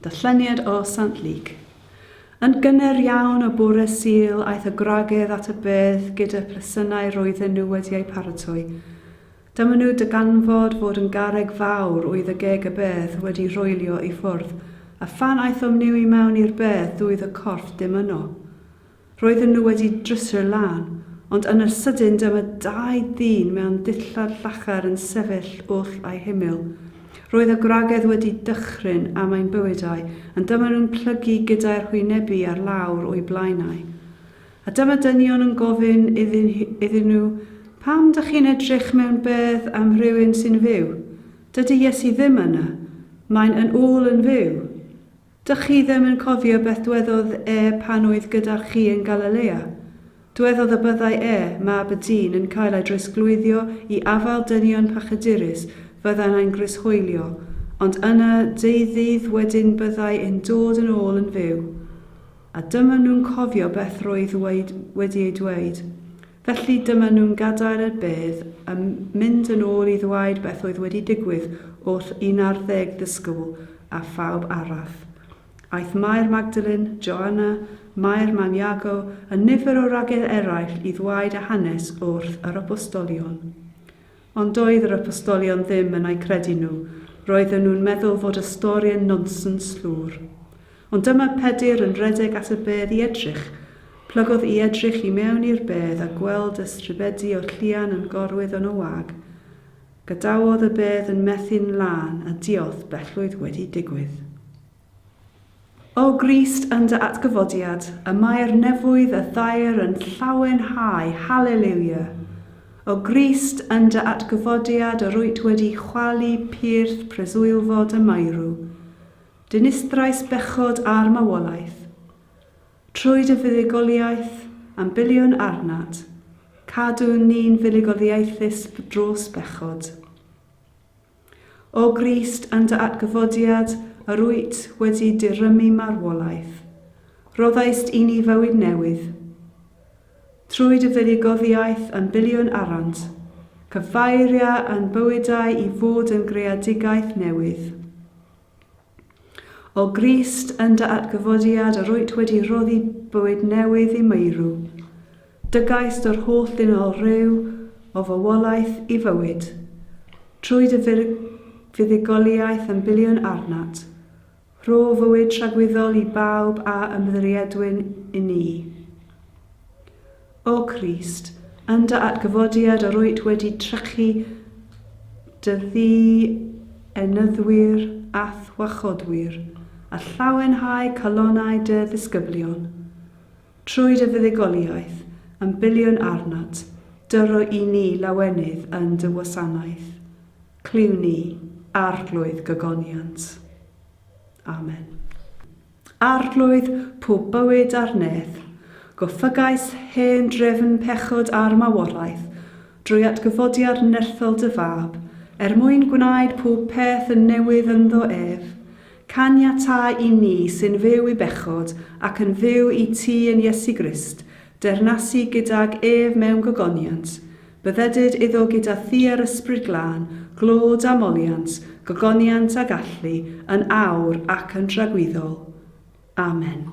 Darlleniad o Sant Lug. Yn gynnar iawn o bore Sul aeth y gwragedd at y bedd gyda phresynau roedden nhw wedi eu paratoi. Dyma nhw dyganfod fod yn garreg fawr oedd y geg y bedd wedi rhoelio i ffwrdd, a phan aethom niw i mewn i'r bedd doedd y corff dim yno. Roedden nhw wedi drysor lân, ond yn yr sydyn dyma dau ddyn mewn dillad llachar yn sefyll wrth eu hymyl. Roedd y gwragedd wedi dychryn am ein bywydau, ond dyma nhw'n plygu gyda'u hwynebu ar lawr o'u blaenau. A dyma dynion yn gofyn iddyn, iddyn nhw, Pam dych chi'n edrych mewn bedd am rywun sy'n fyw? Dydy Iesu ddim yna. Mae'n yn ôl yn fyw. Dych chi ddim yn cofio beth dwedodd e pan oedd gyda chi yn Galilea? Dwedodd y byddai e, Mab y Dyn, yn cael ei drosglwyddio i afael dynion pachydurus, fyddai'n ein grishoelio, ond yna, deu ddydd wedyn byddai e'n dod yn ôl yn fyw. A dyma nhw'n cofio beth roedd wedi ei dweud. Felly dyma nhw'n gadael y bedd a mynd yn ôl i ddweud beth oedd wedi digwydd wrth un ar ddeg ddisgybl a phawb arall. Aeth Mair Magdalene, Joanna, Mair mam Iago a nifer o wragedd eraill i ddweud y hanes wrth yr Apostolion. Ond doedd yr Apostolion ddim yn eu credu nhw, roedden nhw'n meddwl fod y stori yn nonsens llwr. Ond dyma Pedr yn rhedeg at y bedd i edrych. Plygodd i edrych i mewn i'r bedd a gweld y stribedi o'r llian yn gorwydd yn y wag. Gadawodd y bedd yn methu'n lân a diolth bellwydd wedi digwydd. O Grist yn dy atgyfodiad, y mae'r nefoedd a thair yn llawenhau, Haleliwia! O Grist yn dy atgyfodiad yr wyt wedi chwalu pyrth preswylfod y maerw, dinistrais bechod a'r mawolaeth. Trwy dy fuddugoliaeth, am biliwn arnat, cadwn ni'n fuddugoliaethus dros bechod. O Grist yn dy atgyfodiad yr wyt wedi dirymu marwolaeth, rhoddaist i ni fywyd newydd. Trwy dy fuddugoliaeth yn biliwn arant, cyfeiria yn bywydau i fod yn greadigaeth newydd. O Grist yn dy atgyfodiad yr wyt wedi rhoddi bywyd newydd i meirw. Dygaist yr holl ddynol ryw o fywolaeth i fywyd. Trwy dy fuddugoliaeth yn biliwn arnat. Rho fywyd tragwyddol i bawb a ymddiriedwyn i ni. O Grist, yn dy atgyfodiad yr wyt wedi trechu dy ddi-enyddwyr a'th wachodwyr, a llawenhau calonnau dy ddisgyblion. Trwy dy fuddugoliaeth, yn biliwn arnat, dyro i ni lawenydd yn dy wasanaeth. Cluw ni, Arglwydd gogoniant. Amen. Arglwydd pob bywyd a'r nedd, goffygais hen drefn pechod a'r maworaeth, drwy atgyfodiad nerthol dy Fab, er mwyn gwnaed pob peth yn newydd ynddo ef. Caniatáu i ni sy'n fyw i bechod ac yn fyw i ti yn Iesu Grist, deyrnasu gydag ef mewn gogoniant, Byddedid iddo gyda thua'r Ysbryd Glân, glod a moliant, gogoniant a gallu, yn awr ac yn dragwyddol. Amen.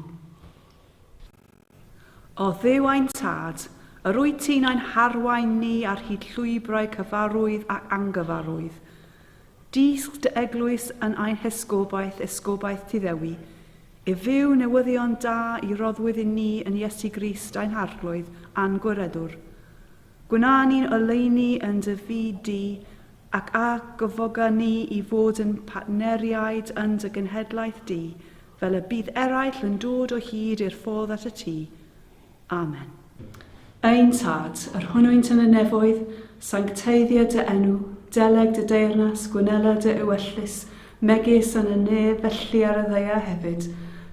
O Dduw ein Tad, yr wyt ti'n ein harwain ni ar hyd llwybrau cyfarwydd ac angyfarwydd, Dysg dy eglwys yn ein hesgobaeth, esgobaeth Tŷ Ddewi, i fyw newyddion da i roddwyd i ni yn Iesu Grist ein Harglwydd a'n Gwiredwr. Gwna ni'n oleuni yn dy fyd di, ac a gyfoga ni i fod yn partneriaid yn dy genhedlaeth di, fel y bydd eraill yn dod o hyd i'r ffordd at y Tŷ, Amen. Ein Tad, yr hwnnwynt yn y nefoedd, sancteiddio dy enw, deleg dy deyrnas, gwnela dy ewyllys, megis yn y nef, felly ar y ddaear hefyd.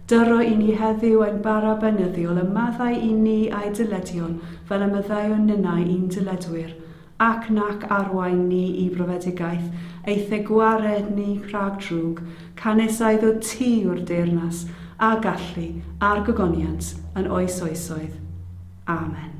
Dyro i ni heddiw ein bara beunyddiol, a maddau i ni a'i dyledion, fel y maddeuwn ninnau i'n dyledwyr. ac nac arwain ni i brofedigaeth, eithe gwared ni rhag drwg, canys a iddo ti yw'r deyrnas, a gallu, a'r gogoniant, yn oes oesoedd. Amen.